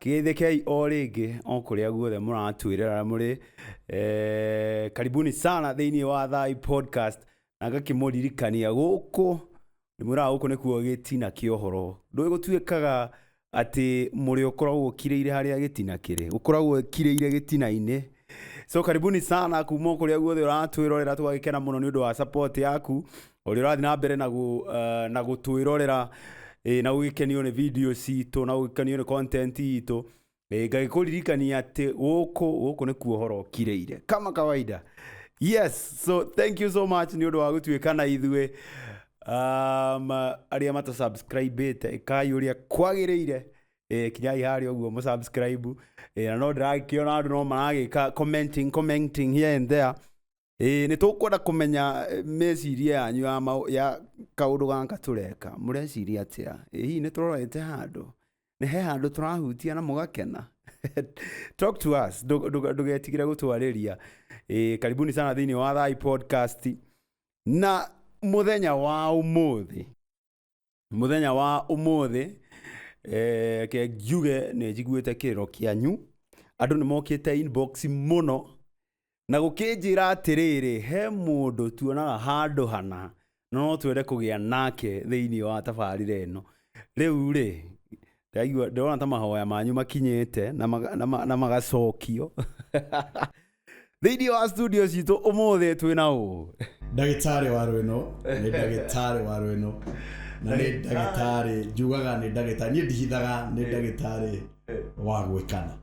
Kĩgeithĩkei o rĩngĩ o kũrĩa guothe mũratuĩrĩra mũrĩ eh, karibuni sana thĩinĩ wa thai podcast na ngakĩmũririkania gũkũ ndĩmwĩraga gũkũ nĩkuo gĩtina kĩa ũhoro ndũĩ gũtuĩkaga atĩ mũrĩ ũkoragwo ũkirĩire harĩa gĩtina kĩrĩ ũkoragwo ũkirĩire gĩtina-inĩ so karibuni sana kuma o kũrĩa guothe ũratwĩrorera tũgagĩkena mũno nĩ ũndũ wa support yaku ũrĩa ũrathiĩ na mbere na, gu, uh, na gũtwĩrorera eh, na gũgĩkenio nĩ video citũ na gũgĩkenio nĩ content itũ eh, ngagĩkũririkania atĩ gũkũ gũkũ nĩ kuohoro kireire kama kawaida yes so thank you so much nĩ ũndũ wa gũtuĩka na ithuĩ um, arĩa matasubscribĩte ĩkai ũrĩa kwagĩrĩire eh, kinyai harĩa ũguo mũsubscribe eh, na no ndĩragĩkĩona andũ no maragĩka commenting commenting here and there ĩĩ nĩ tũkwenda kũmenya eh, meciria yanyu ya, mau- ya kaũndũ gaka tũreka mũreciria atĩa ĩ hihi nĩ tũrorete handũ nĩ he handũ tũrahutia na mũgakena talk to us ndũ- ndũ- ndũgetigire gũtwarĩria ĩĩ karibuni sana thĩinĩ wa thai podcast na mũthenya wa ũmũthĩ mũthenya wa ũmũthĩ eh, ke njuge nĩ njiguĩte kĩrĩro kĩanyu andũ nĩ mokĩte inbox mũno na gũkĩnjĩra atĩrĩrĩ he mũndũ tuonaga handũ hana na no twende kũgĩa nake thĩinĩ wa tabarĩra ĩno rĩu rĩ ndaigua ndĩrona ta mahoya manyu makinyĩte na maga- na ma- na magacokio thĩinĩ wa studio citũ ũmũthĩ twĩ na ũ ndagĩtarĩ wa rwĩno nĩ ndagĩtarĩ wa rwĩno na nĩ ndagĩtarĩ njugaga nĩ ndagĩtarĩ niĩ ndihithaga nĩ ndagĩtarĩ wa gwĩkana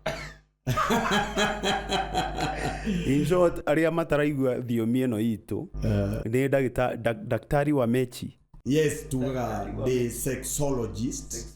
In short, arĩa mataraigua thiomi ĩno itũ Eh, nĩ ndagĩta- nda- daktari wa mechi yes tugaga ndĩ sexologist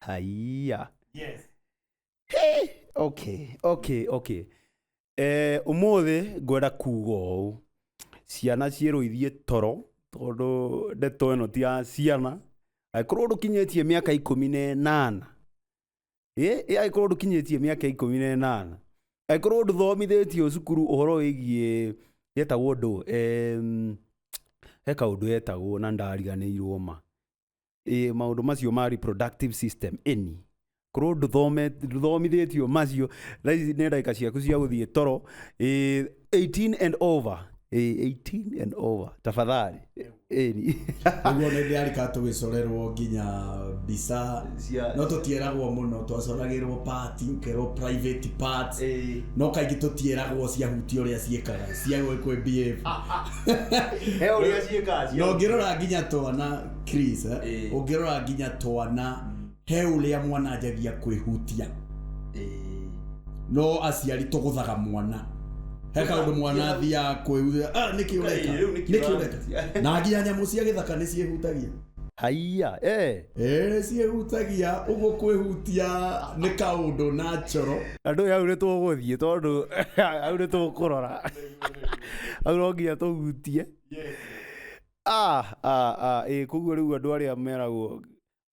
haiya yes Hey, okay okay okay eh umuthi ngwenda kuga ũũ ciana ciĩrũithie toro tondũ ndeto ĩno ti ya ciana angĩkorwo ndũkinyĩtie mĩaka ikũmi na ĩnana ĩ ĩ, angĩkorwo ndũkinyĩtie mĩaka ikũmi na ĩnana angĩkorwo ndũthomithĩtio cukuru ũhoro wĩgiĩ yetagwo ndũ em, he kaũndũ yetagwo na ndariganĩirwo ma ĩ maũndũ macio ma reproductive system ĩni korwo ndũthome- ndũthomithĩtio macio thaa ici nĩ ndagĩka ciaku cia gũthiĩ toro ĩ 18 and over ĩ 18 and over tafadhali ĩni Nĩguo nĩ ndĩarika tũgĩcorerwo nginya mbica Cia- no tũtieragwo mũno twacoragĩrwo part ũkerwo private parts Ĩĩ. no kaingĩ tũtieragwo ciahutia ũrĩa ciĩkaga cia gwĩ kwĩ behave he å rä a ciäkaa na ũngĩrora nginya twana Chris, eh, Ĩĩ. ũngĩrora nginya twana he ũrĩa mwana anjagia kwĩhutia no aciari tũgũthaga mwana he kaũndũ mwana athiaga kwĩhutia "Ah, nĩkĩ ũreka Ngai, rĩu nĩkĩ nĩkĩ ũreka ũrahunjia?" na nginya nyamũ cia gĩthaka nĩ ciĩhutagia haiya eh. Ee, ciĩhutagia ũguo kwĩhutia nĩ kaũndũ natural andå ä au nä tå gå thiä tondå au nä tå kå rora hau no nginya tũhutie Ah, ah, ah, ĩ koguo rĩu andũ arĩa meragwo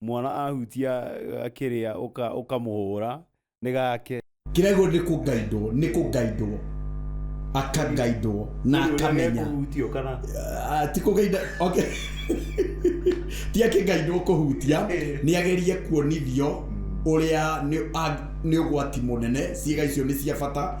mwana ahutia eh, kĩrĩa ũka- ũkamũhũra nĩ gake kĩrego nĩ kũgaidwo nĩ kũgaidwo akagaidwo na akamenya kũhutio kana Ah, ti kũgaida okay. ti akĩgaidwo kũhutia nĩ agerie kuonithio ũrĩa nĩ a- nĩ ũgwati mũnene ciĩga icio nĩ cia bata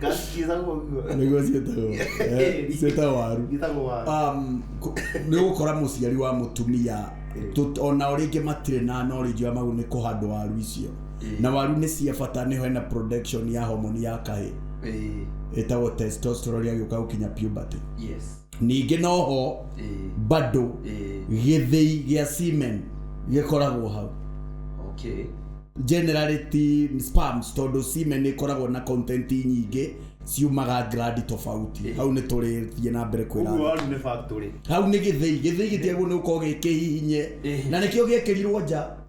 Gakiza guguo. nĩguo ciĩtagwo Eh, ciĩtagwo waru Gĩtagwo waru. Um, ku- nĩ gũkora mũciari wa mũtumia tũ- ona o rĩngĩ matirĩ na knowledge ya mau nĩ kũhandwo waru icio Ĩĩ. na waru nĩ cia bata nĩho hena production ya homoni ya kahĩ Ĩĩ. ĩtagwo testosterone agĩũka gũkinya puberty Yes. Ningĩ noho bado gĩthĩi gĩa semen gĩkoragwo hau. Okay. Generally ti sperms tondũ semen nĩ ĩkoragwo na content nyingĩ ciumaga gland tofauti. Hau nĩ tũrĩthiĩ na mbere kwĩra andũ. Ũguo waru nĩ factory. Hau nĩ gĩthĩi. Gĩthĩi gĩtiagĩrĩirwo nĩ gũkorwo gĩ kĩhihinye. Na nĩkĩo gĩekĩrirwo nja.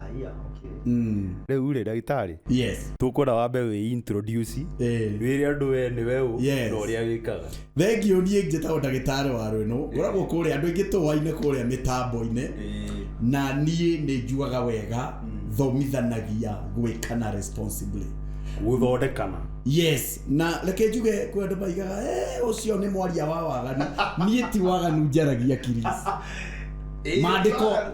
Aya, okay. Mm. rĩu rĩ ndagĩtarĩ yes tũkwenda wambe wĩ introduce Eh. wĩre andũ we nĩ we ũ Yes. na ũrĩa wĩkaga thengio niä njätagwo ndagätarä wa rwä no ngoragwo kå rä a andå aingä tå wainä kå rä a mä tambo-inä na niä nä njuaga wega thomithanagia gwä kana responsibly gũthondekana yes na reke njuge kwä andå maigaga "Eh, å cio nä mwaria wa waganu niä ti waganu njaragia kiris Mandĩko.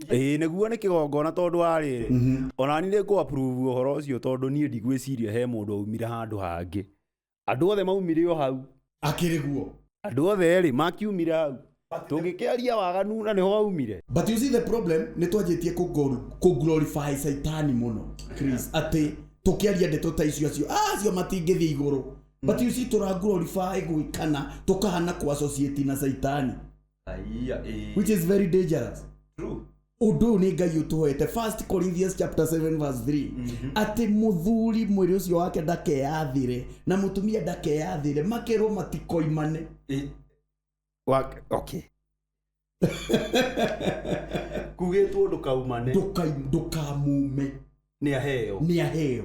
ĩĩ nĩguo nĩ kĩgongona tondũ wa rĩrĩ Mhm. ona niĩ nĩ kũ approve ũhoro ũcio tondũ niĩ ndigwĩciria he mũndũ aumire handũ hangĩ andũ othe maumire o hau akĩrĩ guo andũ othe rĩ makiumire hau tũngĩkĩaria waganu na nĩho waumire but you see the problem nĩ twanjĩtie kũglorify saitani mũno Chris atĩ tũkĩaria ndeto ta icio acio "Ah, acio matingĩthiĩ igũrũ but you see tũraglorify gwĩkana tũkahana kũ associate na saitani Aiya, eh, which is very dangerous true. ũndũ ũyũ nĩ ngai ũtũhete first corinthians chapter 7 verse 3 atĩ mũthuri mwĩrĩ ũcio wake ndakeyathire na mũtumia ndakeyathire makerwo matikoimane Eh, wa- okay. kugĩtwo ndũkaumane ndũkai- ndũkamume nĩ aheo nĩ aheo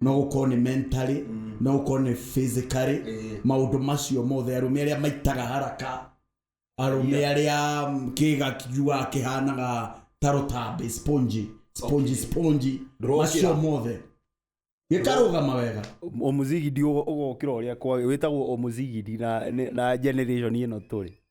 no gũkorwo nĩ mentally no gũkorwo nĩ physically Eh. maũndũ macio mothe arũme arĩa maitaga haraka arũme arĩa mm, kĩga kijuaga kĩhanaga ta rũtambe sponge sponge sponge Ndũrokĩra. macio mothe gĩkarũgama wega omuzigidi ũgokĩra ũrĩa kwa wĩtagwo omuzigidi na, na generation ĩno tũrĩ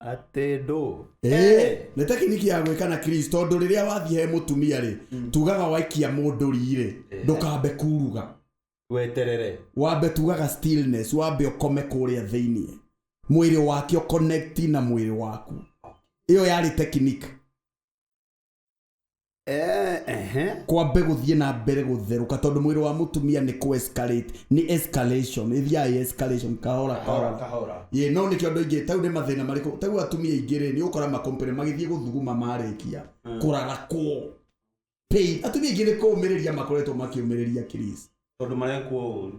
atendo Eh, nä tekiniki ya gwä ka na kris tondå rä rä a wathiä he må tumia rä tugaga waikia må ndå rirä ndå kambe kuruga weterere wambe tugaga stillness wambe ũkome kũrĩa thĩinĩ mwĩrĩ wake ũconnect na mwĩrĩ waku ĩyo yarĩ technique Eh, ehe. kwambe gũthiĩ na mbere gũtherũka tondũ mwĩrĩ wa mũtumia nĩ kũ escalate nĩ escalation ĩthiaĩ escalation kahora kahora kahora ye no nĩkĩo andũ aingĩ tau nĩ mathĩna marĩkũ tau atumia aingĩ rĩ nĩ ũkora makompere magĩthiĩ gũthuguma marĩkia kũrarakwo pain atumia aingĩ nĩ kũũmĩrĩria makoretwo makĩũmĩrĩria Chris tondũ marekwo ũru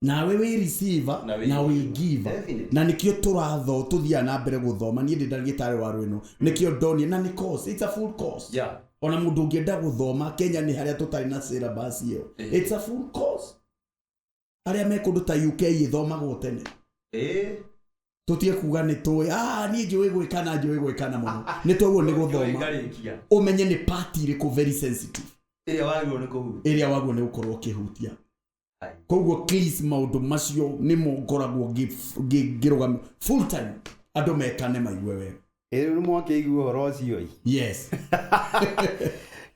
nawe wĩ receiver Na wĩ na wĩ giver. giver Definitely. na nikio turatho tuthiaga na mbere guthoma niĩ ndĩ ndagĩtarĩ wa rwĩno nikio ndonie na nĩ course it's a full course Yeah. ona mũndũ ũngĩenda guthoma Kenya nĩ harĩa tũtarĩ na syllabus ĩyo Eh. it's a full course arĩa me kũndũ ta UK ĩthomagwo tene Eh, tutige kuga nĩ tũĩ ah niĩ njũĩ gwĩkana njũĩ gwĩkana mũno nĩ twaguo nĩ gũthoma ngarĩkia. ũmenye nĩ part irĩkũ very sensitive Ĩrĩa wagĩrĩirwo nĩ kũhuta. ĩrĩa waguo nĩ gũkorwo ũkĩhutia koguo please maundu macio nimo ngoragwo ngĩ- ngĩ- ngĩrũgamia full time andũ metane maigue wega Ĩrĩ nĩ mwakĩigua ũhoro ũcio ĩ? yes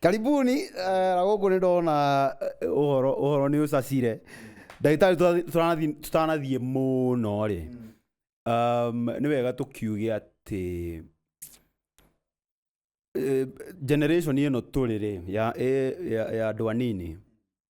karibuni eh, na gũkũ nĩ ndona eh, ũhoro ũhoro nĩ ũcacire ndagĩtarĩ tũtathi- tũtanathi- tũtanathiĩ mũno rĩ um, nĩ wega tũkiuge atĩ eh, generation ĩno tũrĩ rĩ ya, eh, ya, ya andũ anini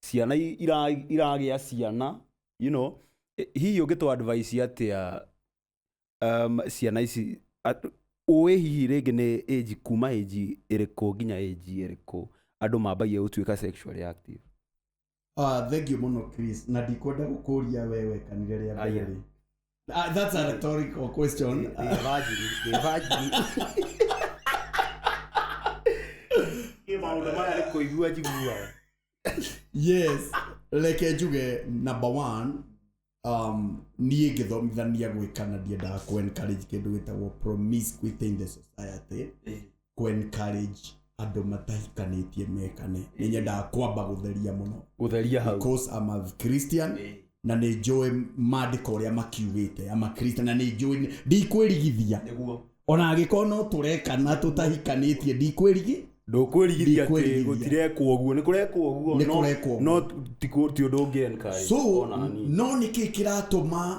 ciana i- ira- iragĩa ciana you know eh, hihi ũngĩtũ advice atĩa um, ciana ici at- ũĩ hihi rĩngĩ nĩ age kuma age ĩrĩkũ nginya age ĩrĩkũ andũ mambagia gũtuĩka sexually active Ah, thengiũ mũno chris na ndikwenda gũkũria we wekanire rĩa mbere Aya. rĩ Uh, that's a rhetorical question. Ni virgin, ni virgin. Nĩ maũndũ maya nĩ kũigua njiguaga. yes reke njuge number one um, niä ngä thomithania gwä kana ndiendaga kå encourage kä ndå gä tagwo promiscuity in the society kũ encourage andũ matahikanĩtie mekane nĩ nyendaga kwamba gũtheria mũno gũtheria hau because I'm a Christian Ĩĩ. na nĩ njũĩ maandĩko ũrĩa makiugĩte ama Christian na nĩ njũĩ nĩ- ndikwĩrigithia nĩguo ona angĩkorwo no tũrekana tũtahikanĩtie ndikwĩrigi ndũkwĩrigithia atĩ Ndikwĩrigithia. gũtirekwo ũguo nĩ kũrekwo ũguo Nĩ no- kũrekwo ũguo. no ti kũ- ti ũndũ ũngĩ encourage, so ona hanini. no nĩkĩ kĩratũma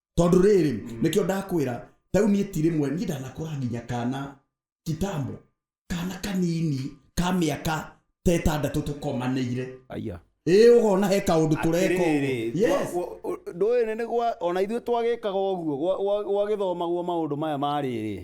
tondå rä rä nä kä o ndakwä ra tau niä ti rä mwe niä ndanakå ra nginya kana kitambo kana kanini ka mä aka tetandatå tå komanäire aya ä å gona he kaå ndå tå reka Atĩrĩrĩ, ũguo. Yes. gwa- gwa- ndũĩ nĩ gwa ona ithuĩ twagĩkaga ũguo gwa- gwa- gwagĩthomagwo maũndũ maya marĩrĩ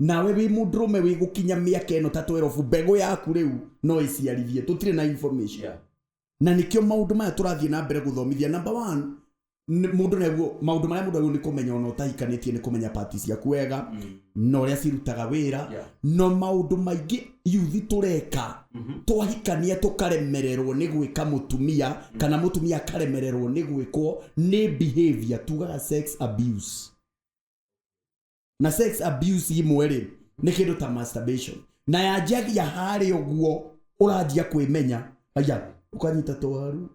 Nawe wĩ mũndũrũme wĩ gũkinya mĩaka ĩno ta 12 mbegũ yaku rĩu no ĩciarithie tũtirĩ na information yeah. na nĩkĩo maũndũ maya tũrathiĩ na mbere gũthomithia number one nĩ- mũndũ naguo maũndũ marĩa mũndũ agĩrĩirwo nĩ kũmenya ona ũtahikanĩtie nĩ kũmenya pati ciaku wega mm. na ũrĩa cirutaga wĩra Yeah. na maũndũ maingĩ yuthi tũreka mm-hmm. twahikania tũkaremererwo nĩ gwĩka mũtumia mm. kana mũtumia akaremererwo nĩ gwĩkwo nĩ behavior tugaga sex abuse na sex abuse imwe rĩ nĩ kĩndũ ta masturbation na yanjagia harĩ ũguo ũranjia kwĩmenya aya ũkanyita twaru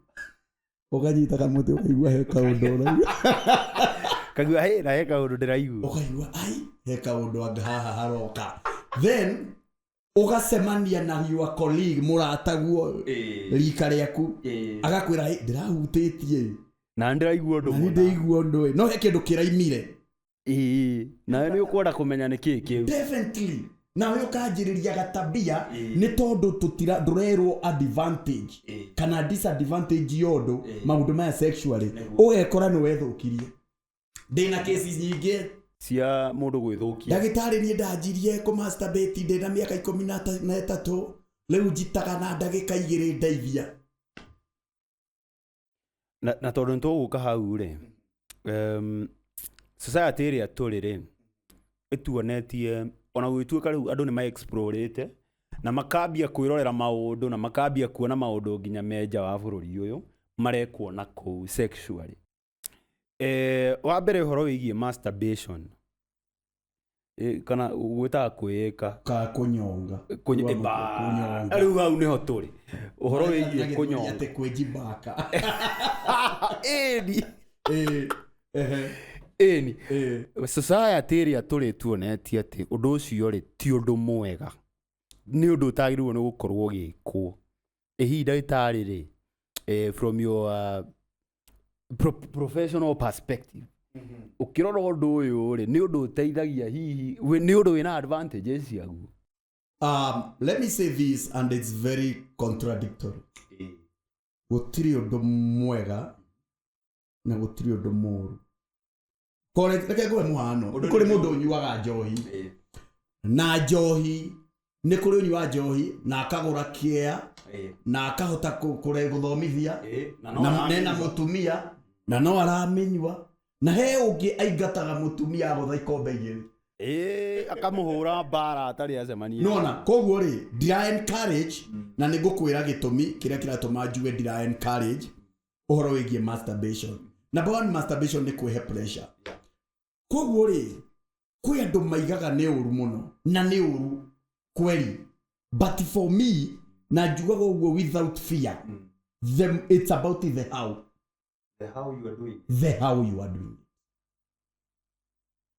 ũkanyita kamũtĩ ũkaigua he kaũndũ ũraigua kagua hä na he kaå ndå ndä raigua ũkaigua ai he kaũndũ anga haha haroka then ũgacemania na your colleague mũrataguo Ĩĩ. rika rĩaku Ĩĩ. agakwĩra "Ĩ, ndĩrahutĩtie ĩ, na ndĩraigua ũndũ na nĩ mũna ndĩigua ũndũ ĩ no he kĩndũ kĩraimire Ĩĩ, nawe nĩ ũkwenda kũmenya nĩ kĩĩ kĩu definitely nawe ũkanjĩrĩria gatabia Ĩĩ. nĩ tondũ tũtira ndũrerwo advantage Ĩĩ. kana disadvantage yondũ Ĩĩ. maũndũ maya sexually Nĩguo. ũgekora nĩ wethũkirie ndä na cases nyingä cia mũndũ gwĩthũkia ndagĩtarĩ niĩ ndanjirie kũ masturbate ndĩ na mĩaka ikũmi na ta- na ĩtatũ rĩu njitaga na ndagĩka igĩrĩ ndeithia na, na tondũ nĩtũgũka hau rĩ um, society ĩrĩa tũrĩ rĩ ĩtuonetie ona gwĩtuĩka rĩu andũ nĩ maexplorĩte na makambia kwĩrorera maũndũ na makambia kuona maũndũ nginya menja wa bũrũri ũyũ marekwo na kũu sexually Eh, wa mbere ũhoro wĩgiĩ masturbation Eh, kana gwĩtaga kwĩĩka ka kunyonga Kũny- Wa- Ba- kunyonga rĩu hau nĩho tũrĩ ũhoro wĩgiĩ Agĩtũria kũnyonga atĩ kwĩjibaka ĩni Eh, ehe, ĩni eh. society ĩrĩa tũrĩ tuonetie atĩ ũndũ ũcio rĩ ti ũndũ mwega nĩ ũndũ ũtagĩrĩirwo nĩ gũkorwo ũgĩkwo ĩ hihi ndagĩtarĩ rĩ eh, from your uh, pro professional perspective ũkĩrora ũndũ ũyũ rĩ nĩ ũndũ ũteithagia hihi wĩ- nĩ ũndũ wĩna advantages ciaguo um, let me say this and it's very contradictory gũtirĩ ũndũ mwega na gũtirĩ ũndũ mũũru Ko reke reke ngũhe mũhano Ũndũ nĩ kũrĩ nĩ- mũndũ ũnyuaga njohi Ĩĩ. na njohi nĩ kũrĩ ũnyuaga njohi na akagũra kĩea Ĩĩ. na akahota kũ- kũre- gũthomithia Ĩĩ. Na no na na ena aramĩnyua. mũtumia na no aramĩnyua na he ũngĩ aingataga mũtumia agũtha ikombe igĩrĩ Ĩĩ, akamũhũra mbara atarĩ acemania nona koguo rĩ ndira encourage na nĩ ngũkwĩra gĩtũmi kĩrĩa kĩratũma njuge ndira encourage ũhoro wĩgiĩ masturbation number one masturbation nĩ kwĩhe pressure koguo rĩ kwĩ andũ maigaga nĩ ũru mũno na nĩ ũru kweli but for me na njugaga ũguo without fear the, it's about the how the how you are doing the how you are doing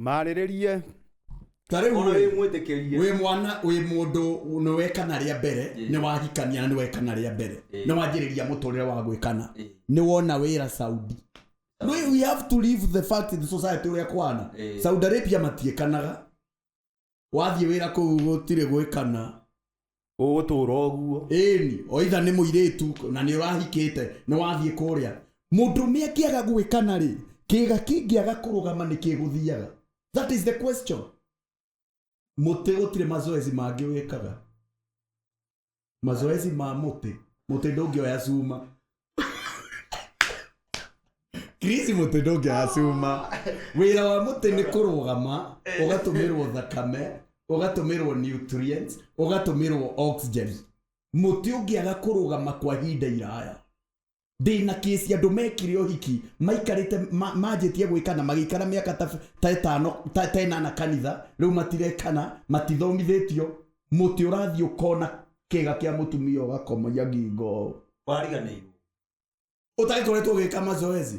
marĩrĩrie Ta rĩu ona rĩ, wĩ mwĩtĩkĩrie wĩ mwana wĩ mũndũ nĩ wekana rĩa mbere Ĩĩ. nĩ wahikania na nĩ wekana rĩa mbere Ĩĩ. nĩ wanjĩrĩria mũtũrĩre wa gwĩkana Ĩĩ. nĩ wona wĩra saudi we, we have to leave the fact in society ũrĩa kwana Ĩĩ. saudi arabia matiĩkanaga Wathiĩ wĩra kũu gũtirĩ gwĩkana. Ũgũtũũra ũguo. Ĩni, o itha nĩ mũirĩtu na nĩ ũrahikĩte, nĩ wathiĩ kũrĩa. Mũndũme angĩaga gwĩkana-rĩ, kĩĩga kĩngĩaga kũrũgama nĩ kĩgũthiaga? That is the question. Mũtĩ gũtirĩ mazoezi mangĩ wĩkaga. mazoezi ma mũtĩ mũtĩ ndũngĩoya cuma krisi mũtĩ ndũngĩoya cuma wĩra wa mũtĩ nĩ kũrũgama ũgatũmĩrwo thakame ũgatũmĩrwo nutrients ũgatũmĩrwo oxygen mũtĩ ũngĩaga kũrũgama kwa ihinda iraya Ndĩ na case ya andũ mekire ũhiki maikarĩte ma- manjĩtie gwĩkana magĩikara mĩaka ta ta ĩtano ta ta ĩnana kanitha rĩu matirekana matithomithĩtio mũtĩ ũrathiĩ ũkona kĩga kĩa mũtumia ũgakomagia ngingo ũũ wariganĩirwo ũtagĩkoretwo ũgĩka mazoezi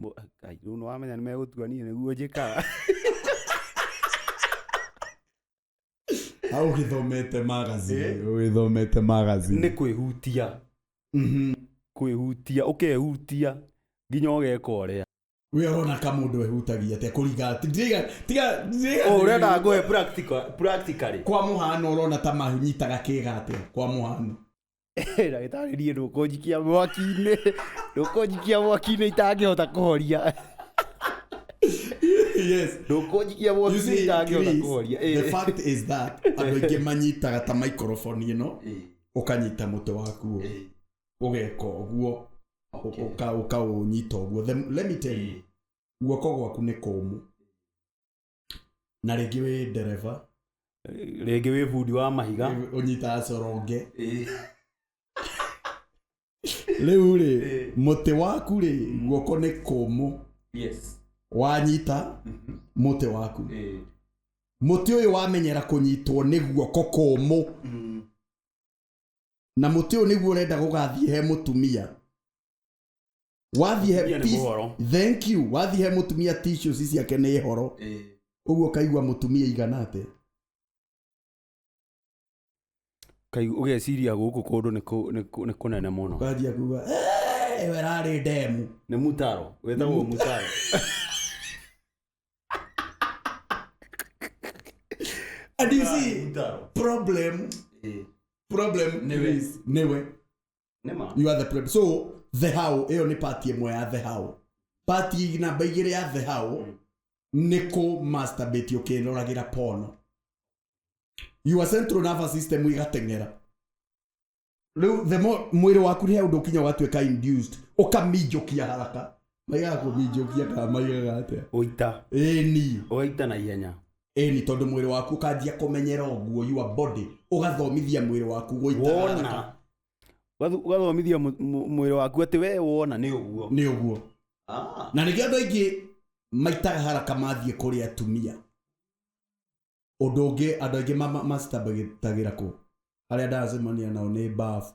Mũ- Ai, rĩu nĩwamenya nĩmegũtua niĩ nĩguo njĩkaga hau ũgĩthomete magazine Eh? ũgĩthomete nĩ magazine kwĩhutia Mhm. kwĩhutia ũkehutia nginya ũgeka ũrĩa we arona ka mũndũ ehutagia atĩa kũringa tiga tiga tiga- ũrenda ngoe practical- practically kwa mũhano ũrona ta manyitaga kĩga atĩa kwa mũhano ndagĩtarĩ niĩ ndũkũnjikia mwaki-inĩ ndũkũnjikia mwaki-inĩ itangĩhota kũhoria yes ndũkũnjikia You mwaki-inĩ see, itangĩhota Chris, kũhoria the Eh. fact is that andå aingä manyitaga ta maikoroboni ä no Eh, å kanyita må te waku å eh, å geka å guo okay. å kaå nyita å guo let me tell you guoko gwaku nä kåmå na rĩngĩ wĩ ndereba rĩngĩ wĩ bundi wa mahiga ũnyitaga coronge rĩu rĩ mũtĩ waku rĩ guoko nĩ kũmũ yes wanyita mũtĩ waku eh mũtĩ ũyũ wamenyera kũnyitwo nĩ guoko kũmũ na mũtĩ ũyũ nĩguo ũrenda gũgathiĩ he mũtumia wathiĩ he Mũtumia nĩ peace- mũhoro. thank you wathiĩ he mũtumia tissues ici ciake nĩ horo Eh, ũguo kaigua mũtumia igana atĩa kai ũgeciria gũkũ kũndũ nĩ kũ- nĩ kũ- nĩ kũnene mũno kanjia kuga "Eh, we rarĩ ndemu nĩ mutaro wetagwo mutaro and you see mutaro problem eh, problem Nĩwe. is nĩwe Nĩma. you are the problem so the how ĩyo nĩ part ĩmwe ya the how part namba igĩrĩ ya the how nĩ kũ masturbate ũkĩroragĩra pono your central nervous system igateng'era rĩu the more mwĩrĩ waku he ũndũ ũkinya ũgatuĩka induced ũkaminjũkia haraka maigaga kũminjũkia kana maigaga atĩa ũita ĩni ũgaita na ihenya ĩni tondũ mwĩrĩ waku ũkanjia kũmenyera ũguo your body ũgathomithia mwĩrĩ waku gũita haraka. wona Ũgathu- ũgathomithia mũ- mũ- mwĩrĩ waku atĩ we wona nĩ ũguo nĩ ũguo Ah. na nĩkĩo andũ aingĩ maitaga haraka mathiĩ kũrĩ atumia ũndũ ũngĩ andũ aingĩ ma- ma- macitambagĩtagĩra kũ arĩa ndaracemania nao nĩ bafu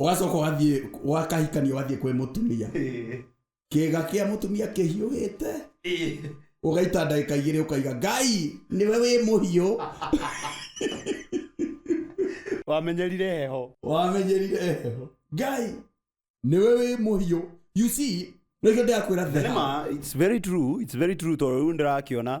ũgacoka ũgathiĩ wakahikania ũgathiĩ kwĩ mũtumia Eh, kĩga kĩa mũtumia kĩhiũhĩte eh. ũgaita ndagĩka igĩrĩ ũkaiga ngai nĩwe wĩ mũhiũ wamenyerire heho wamenyerire heho ngai nĩwe wĩ mũhiũ you see nĩkĩo ndĩrakwĩra Na the nĩma, it's very true, it's very true tondũ rĩu ndĩrakĩona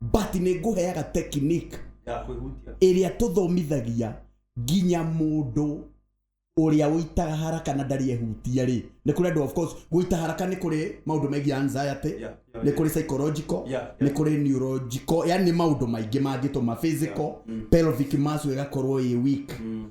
but nĩ ngũheaga technique ya kwĩhutia ĩrĩa tũthomithagia nginya mũndũ ũrĩa ũitaga haraka na ndarĩ ehutia rĩ nĩ kũrĩ andũ of course gũita haraka nĩ kũrĩ maũndũ megiĩ anxiety Yeah, yeah, nĩ kũrĩ psychological Yeah, yeah. nĩ kũrĩ neurological yani nĩ maũndũ maingĩ mangĩtũma physical Mm. pelvic muscle ĩgakorwo ĩ weak Mm.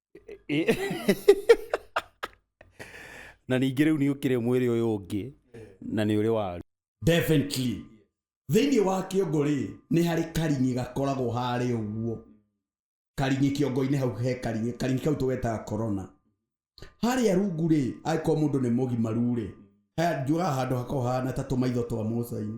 na ningä rä u nä å kä rä mwä rä å yå å ngä na nä å rä waru definitely thĩinĩ wa kĩongo rĩ nĩ harĩ karing'i gakoragwo harĩ ũguo karing'i kĩongo-inĩ hau he karing'i karing'i kau tũgetaga corona harĩa rungu rĩ angĩkorwo mũndũ nĩ mũgimaru rĩ he- njugaga handũ hakoragwo hahana ta tũmaitho twa mũcainĩ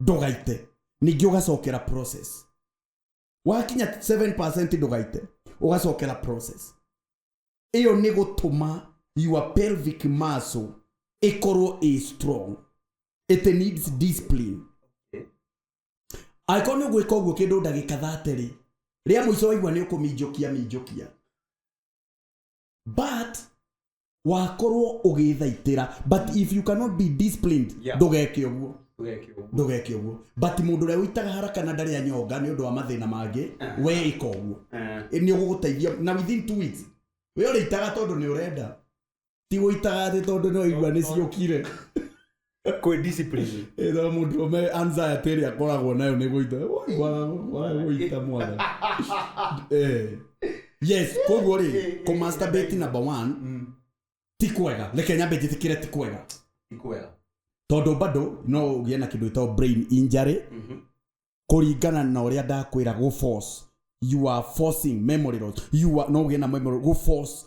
ndũgaite ningĩ ũgacokera process wakinya 7% ndũgaite ũgacokera process ĩyo nĩ gũtũma your pelvic muscle ĩkorwo ĩ strong it needs discipline angĩkorwo nĩ ũgwĩka ũguo kĩndũ ndagĩka thaterĩ rĩa mũico waigua nĩ ũkũminjũkia minjũkia but wakorwo ũgĩthaitĩra but if you cannot be disciplined Yeah. ndũgeke ũguo Ndũgeke ũguo. ndũgeke ũguo but mũndũ ũrĩa ũitaga haraka na ndarĩ anyonga nĩ ũndũ wa mathĩna mangĩ we ĩka ũguo Eh, nĩ ũgũgũteithia na within two weeks we ũrĩitaga tondũ nĩ ũrenda ti gũitaga thĩ tondũ nĩ waigua nĩ ciũkire kwĩ discipline ĩtho mũndũ ũme anxiety ĩrĩa akoragwo nayo nĩ gũita Woi, wa- wa- gũita mwana Eh. yes koguo rĩ kũmasturbate number one ti kwega reke nyambe njĩtĩkĩre ti kwega ikwega tondũ bado no ũgĩe na kĩndũ gĩtagwo brain injury kũringana na ũrĩa ndakwĩra gũ force you are forcing memory loss you are no ũgĩe na memory gũ force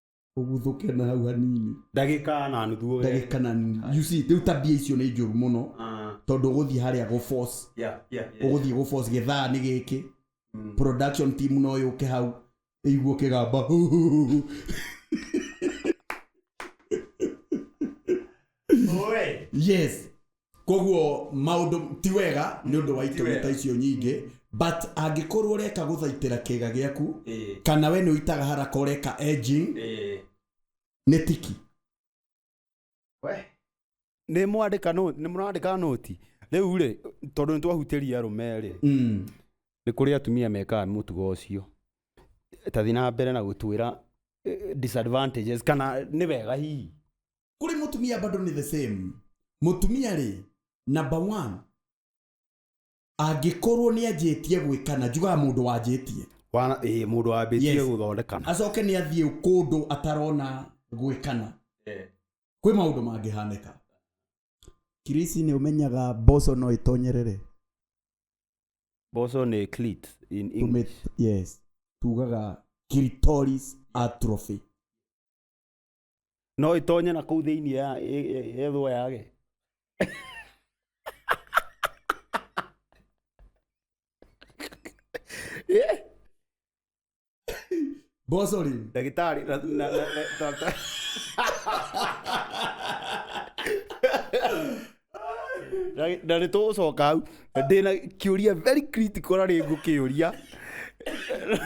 ũguthũke na hau hanini ndagĩka na nuthu ũre. ndagĩka na nini. you see rĩu tabia icio nĩ njũru mũno Ah, tondũ ũgũthiĩ harĩa gũ force yeah, yeah, yeah. ũgũthiĩ gũ force gĩthaa nĩ gĩkĩ Mm. production team no yũke hau ĩiguo kĩgamba Oe. yes koguo maũndũ ti wega nĩ ũndũ wa Ti itũmi wega. ta icio nyingĩ but angĩkorwo ũreka gũthaitĩra kĩga gĩaku Eh, kana we nĩ ũitaga haraka ũreka edging eh. nĩ tiki nä mwandä nä må randä ka noti rä u rä tondå nä twahutä ria rå me rä Mm. nä kå rä atumia mekaga må tugo å cio tathi na mbere na gå twä ra kana nä wega hihi kuri mutumia bado ni the same mutumia ri number one angikorwo ni anjitie gwikana njugaga mundu wanjitie Wana- ĩĩ, mũndũ wambĩtie Yes. gũthondekana acoke ni athiĩ kundu atarona gwikana kwĩ maundu mangĩhanĩka kirisi nĩ ũmenyaga mboco no ĩtonyerere mboco nĩ clit in English. Tumit- yes tugaga clitoris atrophy no ĩtonye na kũu thĩinĩ ya ĩ- ĩ- yethwo yage Eh, mboco rĩ ndagĩtarĩ na- na- na- na- na- Na- na nä tå coka hau ndä na kä å ria very critical na rä ngå kä å ria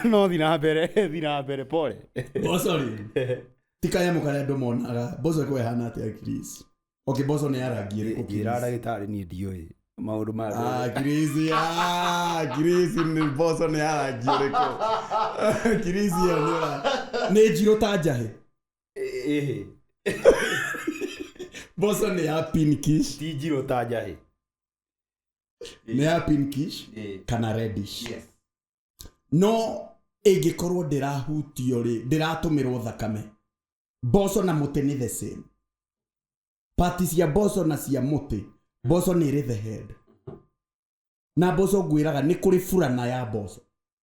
no thi na mbere thi na mbere pole mboco rĩ ti kanyamũ karĩa andũ monaga mboco ĩkorwo ĩhana atĩa Chris? okay mboco nĩ ya rangi ĩrĩkũ njä ra Chris? ndagä tarä niä ndiå maå ndå ma Ah, Chris, ah, Chris, nĩ mboco nĩ ya rangi ĩrĩkũ Chris, ĩyo nĩ ya- nĩ njirũ ta njahĩ ĩhĩ mboco nĩ ya pinkish ti njirũ ta njahĩ nĩ ya pinkish Ĩĩ. kana reddish Yes. no ĩngĩkorwo ndĩrahutio rĩ ndĩratũmĩrwo thakame mboco na mũtĩ nĩ the same pati cia mboco na cia mũtĩ mboco nĩ ĩrĩ the head na mboco ngwĩraga nĩ kũrĩ burana ya mboco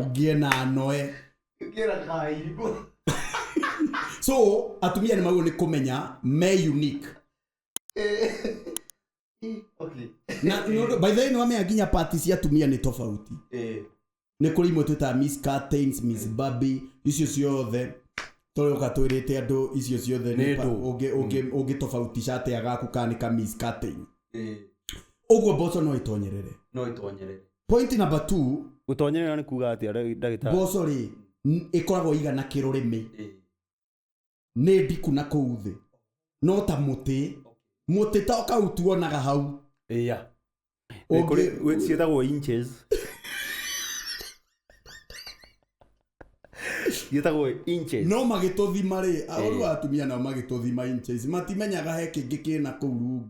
ugie na noe Ngĩra kairigũ. so atumia nĩ magĩrĩirwo nĩ kũmenya me unique Okay. na nĩ ũndũ- by the way nĩ wamenya nginya pati cia atumia nĩ tofauti Eh, nĩ kũrĩ imwe twĩtaga miss curtains miss baby icio ciothe tũrĩũka twĩrĩte andũ icio ciothe Nĩ nĩ pa- ndũ. ũngĩ- ũngĩ- ũngĩtofautisha atĩa gaku kana nĩ ka miss curtain eh, ũguo mboco no itonyerere no itonyerere. point number two gũtonyorera nĩ kuga atĩa ndagĩ- ndagĩtarĩ mboco rĩ n- ĩkoragwo igana kĩrũrĩmĩ nĩ ndiku na kũu thĩ no ta mũtĩ mũtĩ ta kau tuonaga hau ĩya Ũngĩ- Kũrĩ- gwĩ- ciĩtagwo inches ciĩtagwo inches no magĩtũthima rĩ arũru atumia nao magĩtũthima inches matimenyaga he kĩngĩ kĩna kũu rungu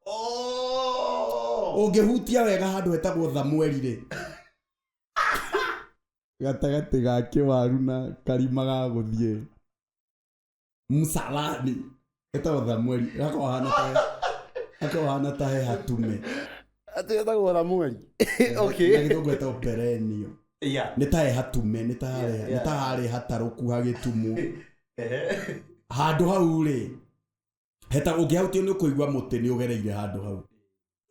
Oh! ũngĩhutia wega handũ hetagwo thamweri-rĩ gatagatĩ ga kĩwaru na karima ga gũthiĩ msalani hetagwo thamweri gakorwo hana ta gakorwo hana ta he hatume Atĩ etagwo Ramueli. na Okay. gĩthũngũ hetagwo perenio Yeah. nĩ ta he hatume nĩ ta harĩ- Yeah, nĩ yeah. ta harĩ hatarũku hagĩtumu Ehe. handå hau rä heta ũngĩhautia nĩ ũkũigua mũtĩ nĩ ũgereire handũ hau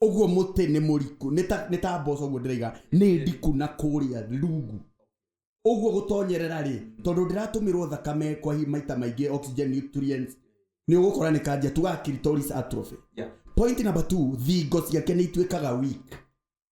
ũguo mũtĩ nĩ mũriku nĩ ta- nĩ ta mboco ũguo ndĩraiga nĩ ndiku na kũrĩa rungu ũguo gũtonyerera rĩ tondũ ndĩratũmĩrwo thakame kwa hi- maita maingĩ oxygen nutrients nĩ ũgũkora nĩ kanja tugaga clitoris atrophy Yeah. point number two thingo ciake nĩ ituĩkaga weak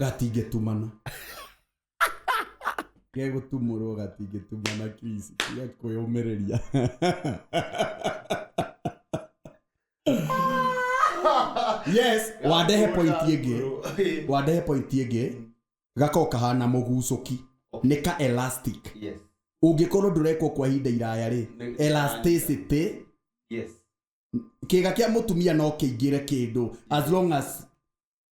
gatingĩtumana gegũtumũrwo gatingĩtumana Chris tiga kwĩyũmĩrĩria yes wandehe point ĩngĩ wandehe point ĩngĩ gakorwo kahana mũgucũki nĩ ka elastic Yes. ũngĩkorwo ndũrekwo kwa ihinda iraya rĩ Nĩ- elasticity Yes. kĩga kĩa mũtumia no kĩingĩre kĩndũ as long as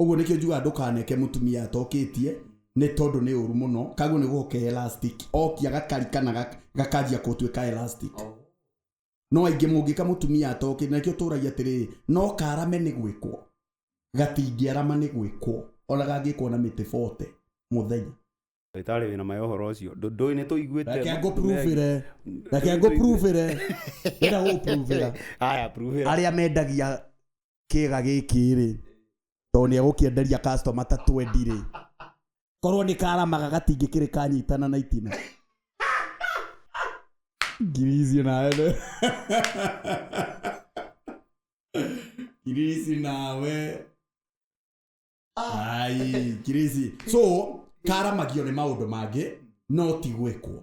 ũguo nĩkĩo njugaga ndũkaneke mũtumia atokĩtie nĩ tondũ nĩ ũru mũno kaguo nĩ gũka elastic okia gakarika na gak- gakanjia gũtuĩka elastic no aingĩ mũngĩka mũtumia atokĩte na nĩkĩo tũragia atĩrĩrĩ no karame nĩ gwĩkwo gatingĩarama nĩ gwĩkwo ona gangĩkwo na mĩtĩ 40 mũthenya ndagĩtarĩ wĩna ma ya ũhoro ũcio Ndũ- ndũĩ nĩ tũiguĩte reke ngũpruvĩre reke ngũpruvĩre ĩra gũpruvĩra haya pruvĩra arĩa mendagia kĩga gĩkĩ rĩ tondũ nĩ egũkĩenderia customer ta 20 rĩ korwo nĩ karamaga gatingĩkĩrĩ kanyitana na itina ngiri icio nawe nĩ- kirisi nawe ai kirisi so karamagio nĩ maũndũ mangĩ no ti gwĩkwo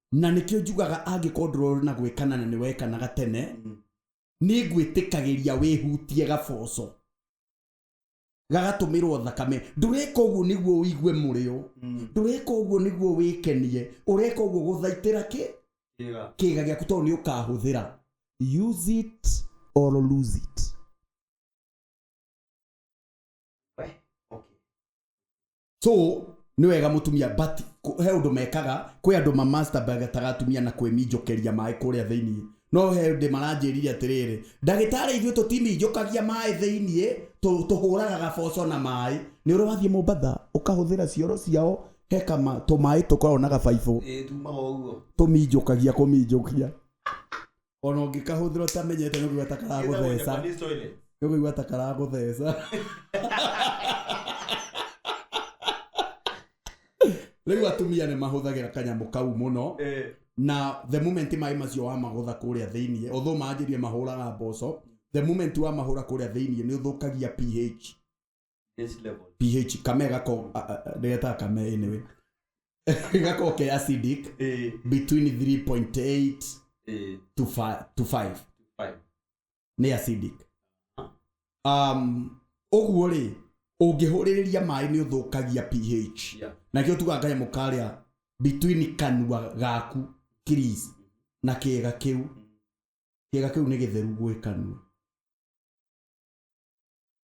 Na nĩkĩo njugaga angĩkorwo ndũrorĩ na gwĩkana na nĩwekanaga tene, nĩngwĩtĩkagĩria wĩhutie gaboco gagatũmĩrwo thakame. Ndũreka ũguo nĩguo ũigue mũrĩo, ndũreka ũguo nĩguo wĩkenie, ũreka ũguo gũthaitĩra kĩ? Kĩĩga gĩaku tondũ nĩũkahũthĩra. Use it or lose it. So nĩ wega mũtumia but kũ- he ũndũ mekaga kwĩ andũ mamasturbataga atumia na kwĩminjũkĩria maĩ kũrĩa thĩinĩ no he ndĩ maranjĩrire atĩrĩrĩ ndagĩtarĩ ithuĩ tũtiminjũkagia maĩ thĩinĩ tũ- tũhũraga gaboco na maĩ nĩ ũrĩ wathiĩ mombatha ũkahũthĩra cioro ciao he kama tũmaĩ tũkoragwo na gabaibũ ĩtumaga ũguo tũminjũkagia kũminjũkia ona ũngĩkahũthĩra ũtamenyete nĩ ũkũigua ta karagũtheca nĩ ũkũigua ta karagũtheca rĩu atumia nĩ mahũthagĩra kanyamũ kau mũno na the moment maĩ macio wamagũtha kũrĩa thĩinĩ otho manjĩrie mahũraga mboco the moment wamahũra kũrĩa thĩinĩ nĩ ũthũkagia ph Next level. ph kame gako a- a- a- ndĩgetaga kame anyway gako ke acidic Eh, between 3.8 eh, to 5 to 5 five. nĩ acidic um, ũguo rĩ ũngĩhũrĩrĩria maĩ nĩ ũthũkagia ph Yeah. nakĩo tuga kanyamũ karĩa between kanua gaku kiris na kĩga kĩu kĩga kĩu nĩ gĩtheru gwĩ kanua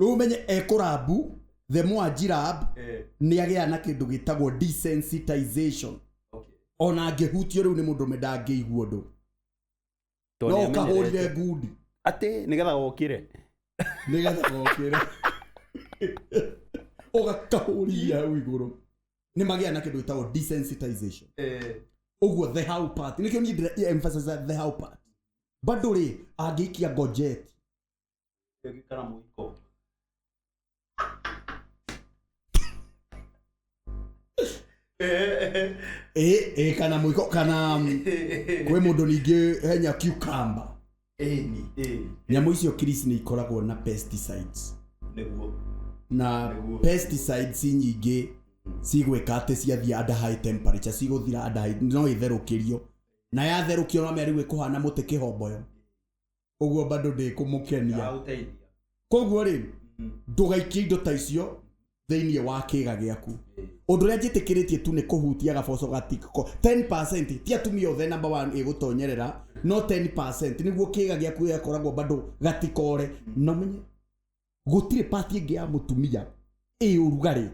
rĩu menye ekũrambu the more ajirab Eh, nĩ agĩa na kĩndũ gĩtagwo desensitization okay. ona angĩhutio rĩu nĩ mũndũ ũmwe ndangĩigua ũndũ Tondũ no nĩamenyerete. ũkahũrire ngundi atĩ nĩgetha wokire nĩgetha gokĩre ũgakahũria hau igũrũ nĩ magĩa na kĩndũ gĩtagwo desensitization Eh, ũguo the how part nĩkĩo niĩ ndĩra emphasize the how part bado rĩ angĩikia ngojeti Kana mũiko. Eh, eh, kana mũiko kana kwĩ mũndũ ningĩ henya cucumber Ĩni. Ĩni. nyamũ icio kiris nĩ ikoragwo na pesticides Nĩguo. na Nĩguo. pesticides nyingĩ cigwĩka atĩ ciathiĩ under high temperature cigũthira under high no itherũkĩrio na yatherũkio no mĩarĩu ĩkũhana mũtĩ kĩhomboyo ũguo bado ndĩkũmũkenia ndagũteithia koguo rĩ Mhm. ndũgaikie indo ta icio thĩinĩ wa kĩga gĩaku Eh. ũndũ ũrĩa njĩtĩkĩrĩtie tu nĩ kũhutia gaboco gatiko 10 ti atumia othe namba 1 ĩgũtonyerera no 10 nĩguo kĩga gĩaku gĩgakoragwo bado gatikore na ũmenye gũtirĩ pati ĩngĩ ya mũtumia ĩ ũrugarĩ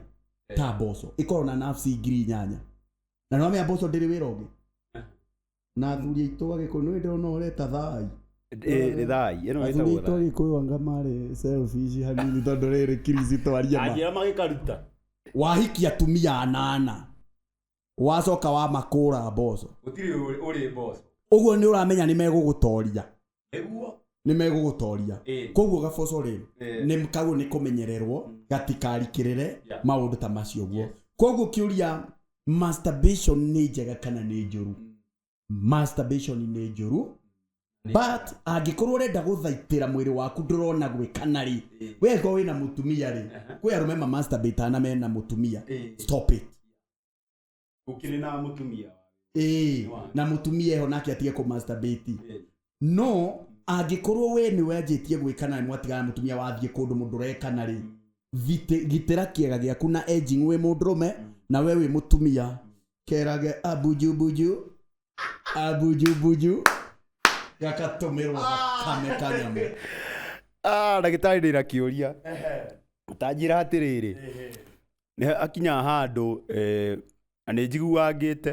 ta mboco ĩkorwo na nafsi ngiri inyanya na nĩwamenya mboco ndĩrĩ wĩra ũngĩ na athuri aitũ agĩkũyũ nĩ ndĩrona ũreta thai Eh, nĩ thai ĩno athuri ĩtagwo aitũ thai agĩkũyũ anga marĩ selfish hanini tondũ rĩrĩ kirisi twaria ma anjĩra magĩkaruta wahikia atumia anana wacoka wamakũra mboco gũtirĩ ũrĩ mboco ũguo nĩ ũramenya nĩ megũgũtoria nĩguo nĩ megũgũtoria Ĩĩ. koguo gaboco rĩ Ĩĩ. nĩ kagwo nĩ kũmenyererwo Mm. gatikarikĩrĩre Yeah. maũndũ ta macio guo Yes. koguo kĩũria masturbation nĩ njega kana nĩ njũru Mm. masturbation nĩ njũru Nĩ- but angĩkorwo ũrenda gũthaitĩra mwĩrĩ waku ndũrona gwĩkana rĩ Ĩĩ. we angĩkorwo wĩna mũtumia rĩ Aha. kwĩ arũme mamasturbataga na mena mũtumia Ĩĩ. stop it Ũkĩrĩ na mũtumia wa ĩĩ Nĩ wanyu. na mũtumia eho nake atige kũ masturbate Ĩĩ. no angĩkorwo we nĩwe anjĩtie gwĩkana na nĩmwatigana na mũtumia wathiĩ kũndũ mũndũ ũrekana rĩ vite- gitĩra kĩaga gĩaku na edging wĩ mũndũrũme na we wĩ mũtumia kerage abunjumbuju abunjumbuju gagatũmĩrwo thakame kanyamũ Ah, ndagĩtarĩ ndĩna kĩũria tanjĩra atĩrĩrĩ nĩ akinyaga handũ eh, na nĩ njiguangĩte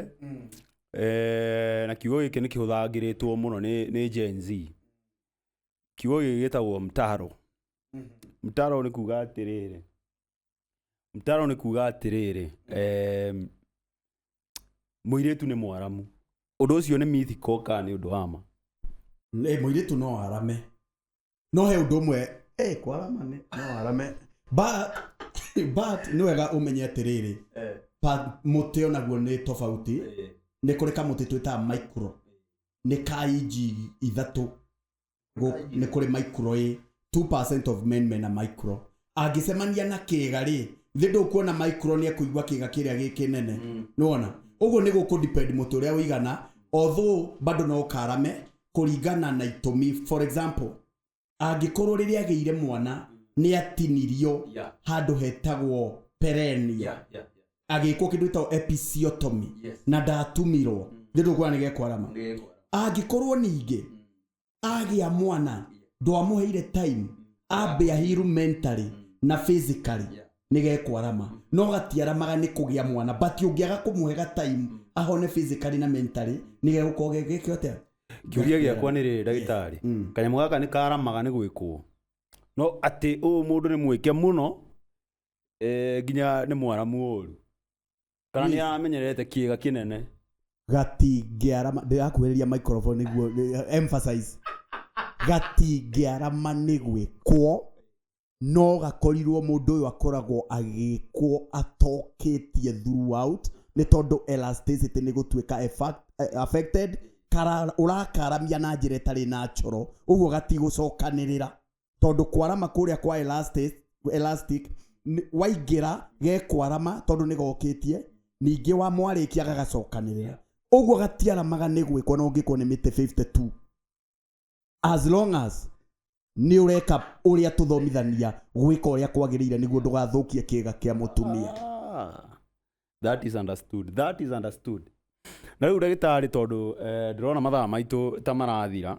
eh, na kiugo gĩkĩ nĩ kĩhũthagĩrĩtwo mũno nĩ, nĩ Gen Z kiugo gĩkĩ gĩtagwo mtaro mtaro nĩ kuga atĩrĩrĩ mtaro nĩ kuga atĩrĩrĩ em, mũirĩtu nĩ mwaramu ũndũ ũcio nĩ mythical kana nĩ ũndũ wa ma Ĩ, mũirĩtu no arame no he ũndũ ũmwe eh, kwarama nĩ no arame but but nĩ wega ũmenye atĩrĩrĩ Eh, pa- mũtĩ onaguo nĩ tofauti eh, nĩ kũrĩ kamũtĩ twĩtaga micro nĩ ka inji ithatũ Gũ- nĩ kũrĩ micro ĩ 2% of men mena micro angĩcemania na kĩga rĩ thĩ ndũkuona micro nĩ ekũigua kĩga kĩrĩa gĩ kĩnene nĩwona ũguo nĩ gũkũ depend mũtĩ ũrĩa ũigana although bado no ũkarame kũringana na itũmi for example angĩkorwo rĩrĩa agĩire mwana nĩ atinirio Yeah. handũ hetagwo perenia Yeah, yeah, yeah. agĩkwo kĩndũ gĩtagwo episiotomy Yes. na ndatumirwo thĩ ndũkuona nĩ gekwarama Nĩ- angĩkorwo ningĩ agĩa mwana ndwamũheire time ambe ahiru mentally na physically nĩ gekwarama no gatiaramaga nĩ kũgĩa mwana but ũngĩaga kũmũhega time ahone physically na mentally nĩ gegũkorwo gegeke atĩa kĩũria gĩakwa nĩ rĩrĩ ndagĩtarĩ Mm. kanyamũ gaka nĩ karamaga nĩ gwĩkwo no atĩ ũyũ mũndũ nĩ mwĩke mũno eh, nginya nĩ mwaramu ũru kana nĩ amenyerete kĩga kĩnene gatingĩarama ndĩrakuhĩrĩria microphone nĩguo nĩ- emphasize gatingĩarama nĩ gwĩkwo no gakorirwo mũndũ ũyũ akoragwo agĩkwo atokĩtie throughout nĩ tondũ elasticity nĩ gũtuĩka effact- eh, affected kara- ũrakaramia na njĩra ĩtarĩ natural ũguo gatigũcokanĩrĩra tondũ kwarama kũrĩa kwa elastic, elastic nĩ- waingĩra gekwarama tondũ nĩ gokĩtie ningĩ wa mwarĩkia gagacokanĩrĩra ũguo gatiaramaga nĩ gwĩkwo na ũngĩkwo nĩ mĩtĩ 52 as long as nĩ ũreka ũrĩa tũthomithania gwĩka ũrĩa kwagĩrĩire nĩguo ndũgathũkie kĩga kĩa mũtumia Ah, that is understood that is understood na rĩu ndagĩtarĩ tondũ eh, ndĩrona mathaa maitũ ta marathira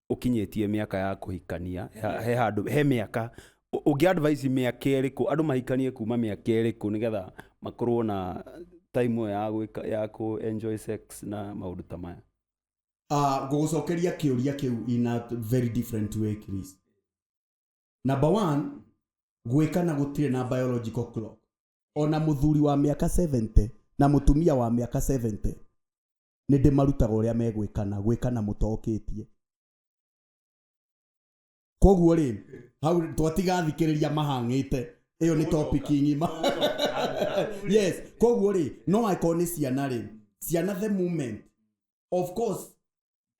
ũkinyĩtie mĩaka ya kũhikania ya- he handũ he mĩaka ũ- ũngĩ advice mĩaka ĩrĩkũ andũ mahikanie kuma mĩaka ĩrĩkũ nĩgetha makorwo na time ĩyo ya gwĩka ya kũ enjoy sex na maũndũ ta maya Ah, ngũgũcokeria kĩũria kĩu in a very different way Chris. number one gwĩkana gũtirĩ na biological clock ona mũthuri wa mĩaka 70 na mũtumia wa mĩaka 70 nĩndĩmarutaga ũrĩa megwĩkana gwĩkana mũtokĩtie koguo rĩ hau twatiga thikĩrĩria mahang'ĩte ĩyo nĩ topic ng'ima yes koguo rĩ no angĩkorwo nĩ ciana rĩ ciana the moment of course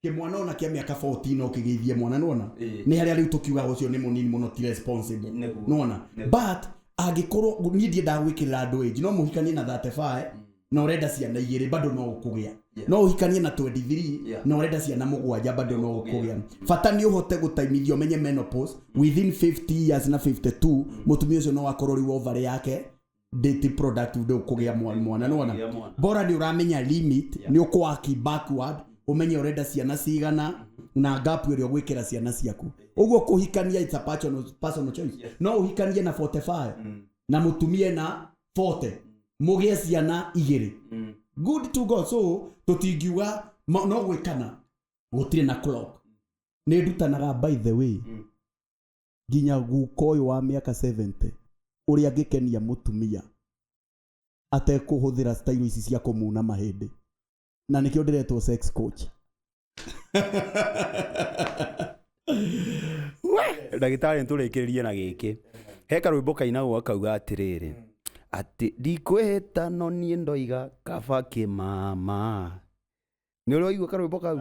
kĩmwana ona kĩa mĩaka 14 no kĩgeithie mwana nona Ĩĩ. nĩ harĩa rĩu tũkiugaga ũcio nĩ mũnini mũno ti responsible Nĩguo. nona Nĩguo. but angĩkorwo niĩ ndiendaga gwĩkĩrĩra andũ age no mũhikanie na 35 na urenda ciana igiri bado no ukugia Yeah. no uhikanie na 23 Yeah. na urenda ciana mugwanja bado no ukugia bata ni uhote gutaimithio menye menopause within 50 years na 52 mutumia ucio no akorwo riu ovary yake date product ndu ukugia mwa- mwana ni wona Kugia mwana. bora ni uramenya limit ni ukwaki backward umenye urenda ciana cigana na gap ĩrĩa ũgwĩkĩra ciana ciaku ũguo kũhikania it's a personal, personal choice no ũhikanie na 45 na mũtumie na 40 mũgĩe ciana igĩrĩ good to go so tũtingiuga ma- no gwĩkana gũtirĩ na clock nĩ ndutanaga by the way nginya guka ũyũ wa mĩaka 70 ũrĩa angĩkenia mũtumia atekũhũthĩra stairo ici cia kũmuna mahĩndĩ na nĩkĩo ndĩretwo sex coach ndagĩtarĩ nĩtũrĩkĩrĩrie na gĩkĩ he karwĩmbo kainagwo akauga atĩrĩrĩ atĩ ndikwĩhĩta no niĩ ndoiga kaba kĩmama nĩ ũrĩa waigua karwĩmbo kau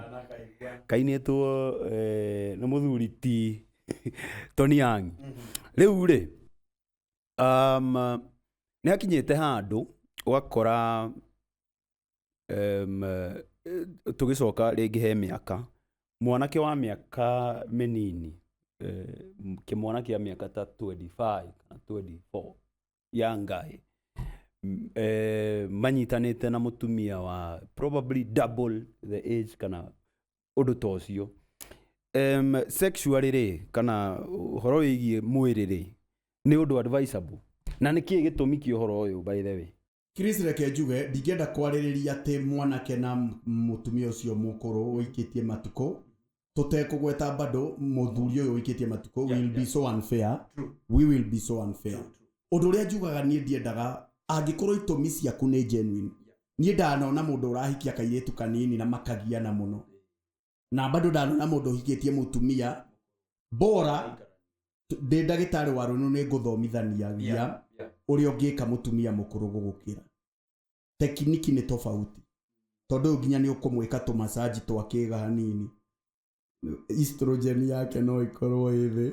kainĩtwo eh, nĩ mũthuri ti Tony Young rĩu rĩ um, nĩ akinyĩte handũ ũgakora tũgĩcoka rĩngĩ he mĩaka, mwanake wa mĩaka mĩnini, kĩmwana kĩa mĩaka ta twenty five kana twenty four, young guy, manyitanĩte na mũtumia wa probably double the age kana ũndũ ta ũcio. Sexually rĩ, kana ũhoro wĩgiĩ mwĩrĩ rĩ, nĩ ũndũ advisable? Na nĩkĩ gĩtũmi kĩa ũhoro ũyũ by the way? Chris, reke njuge ndingĩenda kwarĩrĩria atĩ mwanake na m- mũtumia ũcio mũkũrũ ũikĩtie matukũ tũtekũgweta bado mũthuri ũyũ ũikĩtie matukũ Yeah, will be yeah. so unfair True. we will be so unfair True, true. ũndũ ũrĩa njugaga niĩ ndiendaga angĩkorwo itũmi ciaku nĩ genuine niĩ ndanona mũndũ ũrahikia kairĩtu kanini na makagiana mũno na bado ndanona mũndũ ũhikĩtie mũtumia bora t- ndĩ ndagĩtarĩ wa rũnũ nĩ ngũthomithania gia Yeah, yeah. ũrĩa ũngĩka mũtumia mũkũrũ gũgũkĩra tekiniki nĩ tofauti tondũ ũyũ nginya nĩ ũkũmwĩka tũmasaji twa kĩga hanini estrogen yake no ĩkorwo ĩ thĩ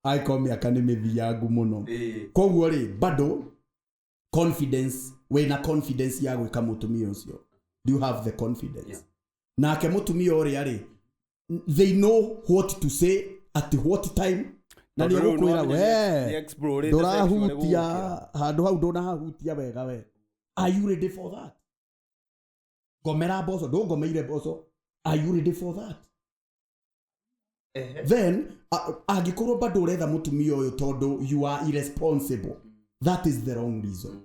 angĩkorwo mĩaka nĩ mĩthiangu mũno Ĩĩ. koguo rĩ bado confidence wĩna confidence ya gwĩka mũtumia ũcio do you have the confidence Yeah. nake mũtumia ũrĩa rĩ they know what to say at what time na nĩ Tondũ rĩu ũgũkwĩra nĩwamenya nĩ- nĩ we explore ũrĩte section ĩrĩa ndũrahutia gũgũkĩra." handũ hau ndũnahahutia wega we are you ready for that ngomera mboco ndũngomeire mboco are you ready for that Ehe. then a- angĩkorwo bado ũretha mũtumia ũyũ tondũ you are irresponsible that is the wrong reason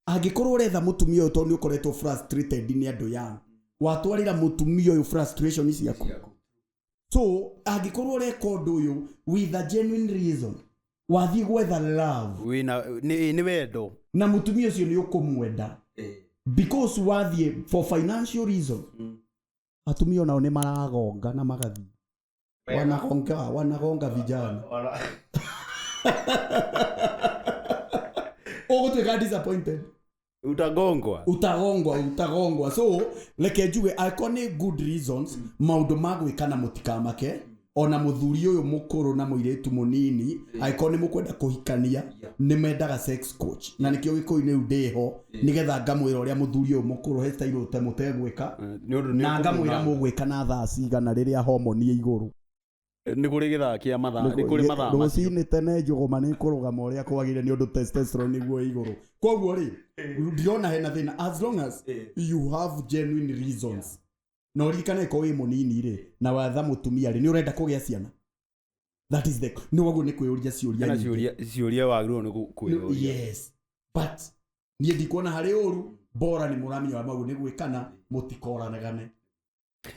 angĩkorwo ũretha mũtumia ũyũ tondũ nĩ ũkoretwo frustrated nĩ andũ yang watwarĩra mũtumia ũyũ frustration ciaku Ciaku. so angĩkorwo ũreka ũndũ ũyũ with a genuine reason wathiĩ gwetha love wina ni ni wendo na mũtumia ũcio nĩ ũkũmwenda Eh. because wathiĩ for financial reason atumia onao nĩ maragonga na magathiĩ wanagonga wanagonga vijana Ona- ũgũtuĩka disappointed utagongwa utagongwa utagongwa so reke njuge angĩkorwo nĩ good reasons maũndũ ma gwĩka na mũtikamake ona mũthuri ũyũ mũkũrũ na mũirĩtu mũnini angĩkorwo nĩ mũkwenda kũhikania nĩ mendaga sex coach na nĩkĩo gĩkũyũ-inĩ rĩu ndĩho nĩgetha ngamwĩra ũrĩa mũthuri ũyũ mũkũrũ he style ũte- mũtegwĩka nĩ ũndũ nĩ na ngamwĩra ũkũmũhanda. mũgwĩka na thaa cigana rĩrĩa homoni ĩ igũrũ nĩ kũrĩ gĩthaa kĩa mathaa nĩ kũrĩ Ye- mathaa macio rũcinĩ tene njũgũma nĩ kũrũgama ũrĩa kwagĩrĩire nĩ ũndũ testosterone nĩguo ĩ igũrũ koguo rĩ ndirona hena thĩna as long as you have genuine reasons na ũririkane ko wĩ mũnini rĩ na watha mũtumia rĩ nĩ ũrenda kũgĩa ciana that is the no waguo nĩ kwĩyũria ciũria kana nyingĩ. ciũria ciũria wagĩrĩirwo nĩ gũ- kwĩyũria yes but niĩ ndikuona harĩ ũru bora nĩ mũramenya wa mau nĩ gwĩkana mũtikoranagane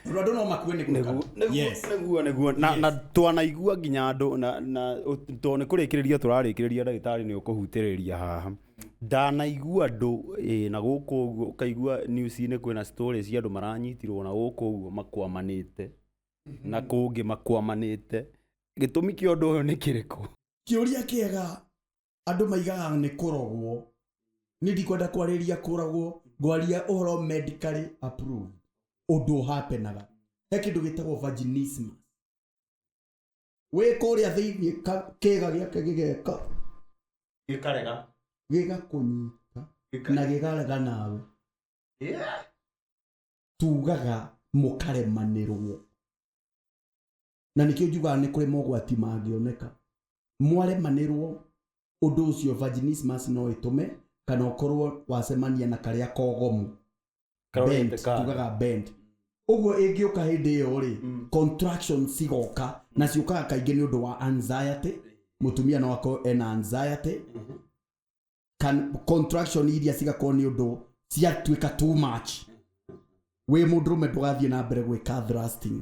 tondũ andũ no makue nĩ gwĩkana Nĩguo- nĩguo- Yes. nĩguo nĩguo na Yes. na twanaigua nginya andũ na na tondũ nĩ kũrĩkĩrĩria tũrarĩkĩrĩria ndagĩtarĩ nĩ ũkũhutĩrĩria haha Ndanaigua andũ na gũkũ ũguo ũkaigua news inĩ kwĩna story cia andũ maranyitirwo na gũkũ ũguo makwamanĩte na kũngĩ makwamanĩte. Gĩtũmi kĩa ũndũ ũyũ nĩ kĩrĩkũ? Kĩũria kĩega andũ maigaga nĩ kũrogwo. Niĩ ndikwenda kwarĩrĩria kũrogwo, ngwaria ũhoro medically approved. Ũndũ ũ happen aga. He kĩndũ gĩtagwo vaginismus. wĩ kũrĩa thĩinĩ ka- kĩĩga gĩake gĩgeka gĩkarega gĩgakũnyita Gĩka- na gĩkarega nawe Yeah. tugaga mũkaremanĩrwo na nĩkĩo njugaga nĩ kũrĩ mogwati mangĩoneka mwaremanĩrwo ũndũ ũcio vaginismus no ĩtũme kana ũkorwo wacemania na karĩa kogomu Karorete bent ka- tugaga bent ũguo ĩngĩũka hĩndĩ ĩyo rĩ contraction cigoka na ciũkaga kaingĩ nĩ ũndũ wa anxiety mũtumia no akorwo ena anxiety Can, contraction iria cigakorwo nĩ ũndũ ciatuĩka too much wĩ mũndũrũme ndũgathiĩ na mbere gwĩka thrusting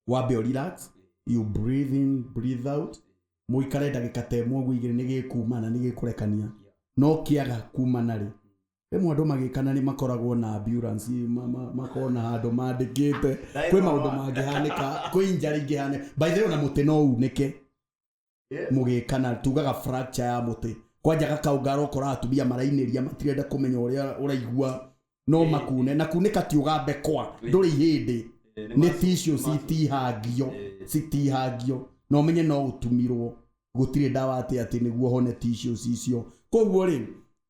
wambe ũ relax you breathe in breathe out mũikare ndagĩka ta ĩmwe ũguo igĩrĩ nĩgĩkuma na nĩgĩkũrekania no kĩaga kumana rĩ rĩmwe andũ magĩkana nĩ makoragwo na ambulance ma- ma- makoragwo na handũ mandĩkĩte kwĩ maũndũ mangĩhanĩka kwĩ injari ingĩhanĩka by the way ona mũtĩ no unĩke mũgĩkana tugaga fracture ya mũtĩ kwanja gakaũ ngarokora atumia marainĩria matirenda kũmenya ũrĩa ũraigua no makune na kunĩka ti ũgambe kwa ndũrĩ ihĩndĩ nĩ tissue citihangio citihangio na ũmenye no ũtumirwo gũtirĩ ndawa atĩ atĩ nĩguo hone tissue icio koguo rĩ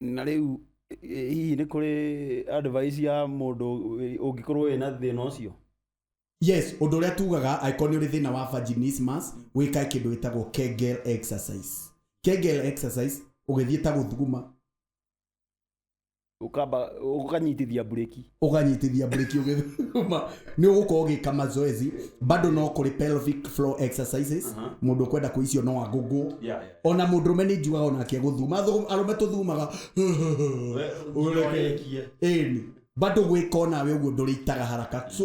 na rĩu ĩ- hihi nĩ kũrĩ advice ya mũndũ wĩ- ũngĩkorwo wĩ na thĩna ũcio yes ũndũ ũrĩa tugaga angĩkorwo nĩ ũrĩ thĩna wa vaginismus wĩkae kĩndũ gĩtagwo kegel exercise kegel exercise ũgĩthiĩ ta gũthuguma ukamba ukanyitithia bureki ũkanyitithia breki ũgĩthuma nĩ ũgũkorwo ũgĩka mazoezi bado no kũrĩ pelvic floor exercises mũndũ ũkwenda kũ icio no agũgũ ona mũndũ rũme nĩ njugaga onake gũthuma Thũ- arũme tũthumaga Ũreke. ĩni bado gwĩka onawe ũguo ndũrĩitaga haraka so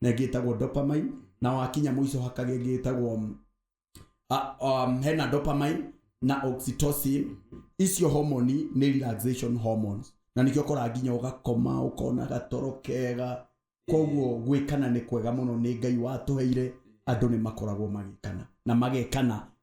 na ĩngĩ ĩtagwo dopamine na wakinya mũico hakaga ĩngĩ ĩtagwo mm, a- um, hena dopamine na oxytocin icio homoni nĩ relaxation hormones na nĩkĩo ũkoraga nginya ũgakoma ũkona gatoro kega koguo gwĩkana nĩ kwega mũno nĩ ngai watũheire andũ nĩ makoragwo magĩkana na magekana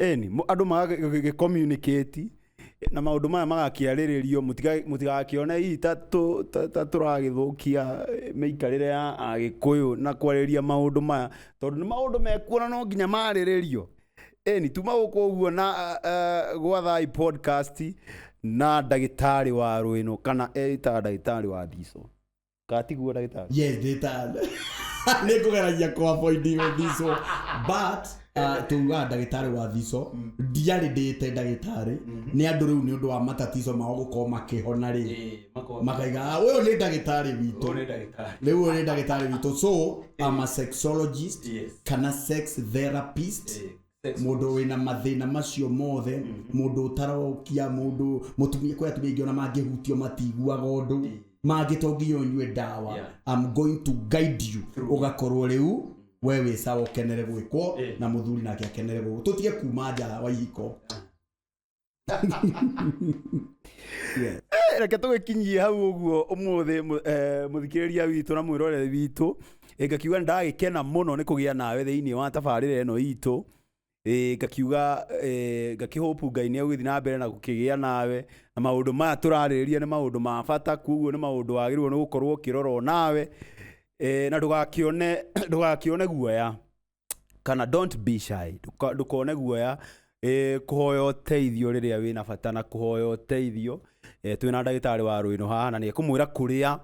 Ĩni, mũ- andũ magagĩcommunicate na maũndũ maya magakĩarĩrĩrio mũtiga- mũtigakĩone hihi ta tũ- ta- ta tũragĩthũkia eh, mĩikarĩre ya agĩkũyũ na kwarĩria maũndũ maya tondũ nĩ maũndũ mekuona no nginya marĩrĩrio ĩni tuma gũkũ ũguo na ah, ah, gwa thai podcast na ndagĩtarĩ wa rwĩno kana etaga ndagĩtarĩ wa ndico katiguo ndagĩtarĩ yes ndĩta nĩ kũgeragia kwa boindi gũthicwo but uh, tuugaga ndagĩtarĩ wa thico ndiarĩ ndĩte ndagĩtarĩ nĩ andũ rĩu nĩ ũndũ wa matatico mao gũkorwo makĩhona rĩ makaiga "Ah, ũyũ nĩ ndagĩtarĩ witũ rĩu ũyũ nĩ ndagĩtarĩ witũ so I'm a sexologist Yes. kana sex therapist mũndũ wĩna mathĩna macio mothe mũndũ ũtarokia mũndũ mũtumia kwĩ atumia aingĩ ona mangĩhutio matiguaga ũndũ mangĩ to nginya ũnyue ndawa Yeah. I'm going to guide you Through. ũgakorwo rĩu we wĩ sawa ũkenere gwĩkwo Eh. na mũthuri nake akenere gwĩkwo tũtige kuma nja wa ihiko Yeah. Eh, reke tũgĩkinyie hau ũguo ũmũthĩ mũ- eh, mũthikĩrĩria witũ na mwĩroreri witũ Eh, ngakiuga ndagĩkena mũno nĩ kũgĩa nawe thĩinĩ wa tabarĩra ĩno itũ Eh, ngakiuga eh, ngakĩhũpu ngai nĩ egũgĩthiĩ na mbere na gũkĩgĩa nawe na maũndũ maya tũrarĩrĩria nĩ maũndũ ma bata kuoguo nĩ maũndũ wagĩrĩirwo nĩ gũkorwo ũkĩrorwo nawe Eh, na ndũgakĩone ndũgakĩone guoya kana don't be shy Ndũka- ndũkone guoya ĩ, kũhoya ũteithio rĩrĩa wĩ na bata na kũhoya ũteithio eh, twĩ na ndagĩtarĩ wa rũĩno haha na nĩ ekũmwĩra kũrĩa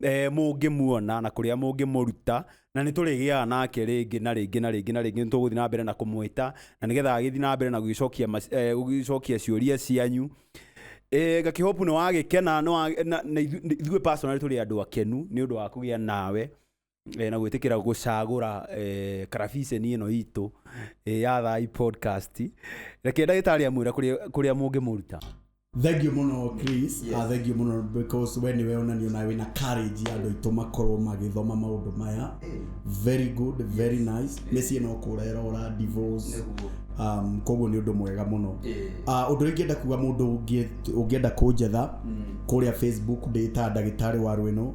eh, mũngĩmuona na kũrĩa mũngĩmũruta na nĩ tũrĩgĩaga nake rĩngĩ na rĩngĩ na rĩngĩ na rĩngĩ nĩ tũgũthiĩ na mbere na kũmwĩta na nĩgetha agĩthiĩ na mbere na gũgĩcokia mac- eh, gũgĩcokia ciũria cianyu Eh, ngakĩhopu nĩ wagĩkena nĩ wa- na- na ithu- ithuĩ personally tũrĩ andũ akenu nĩ ũndũ wa kũgĩa nawe eh, na gwĩtĩkĩra gũcagũra eh, karabiceni ĩno itũ eh, ya thai podcast reke ndagĩtarĩ amwĩra kũrĩa kũrĩa mũngĩmũruta thengio mũno chris Yes. Ah, thengio mũno because we nĩwe onanio nawe wĩna courage ya andũ aitũ makorwo magĩthoma maũndũ maya very good very nice mĩciĩ no kũrera ũra divorce Nĩguo. um, koguo nĩ ũndũ mwega mũno Eh. Ah, ũndũ ũrĩa ingĩenda kuga mũndũ ũngĩ- ũngĩenda kũnjetha kũrĩa facebook ndĩta ndagĩtarĩ wa rwĩno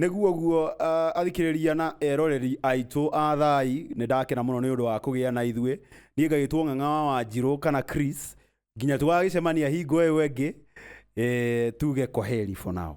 Nĩguo guo uh, athikĩrĩria na eroreri aitũ a thai nĩ ndakena mũno nĩ ũndũ wa kũgĩa na ithuĩ niĩ ngagĩtwo ng'ang'a wa wanjirũ kana Chris nginya tũgagĩcemania hingo ĩyo ĩngĩ e, tuge kwaheri for now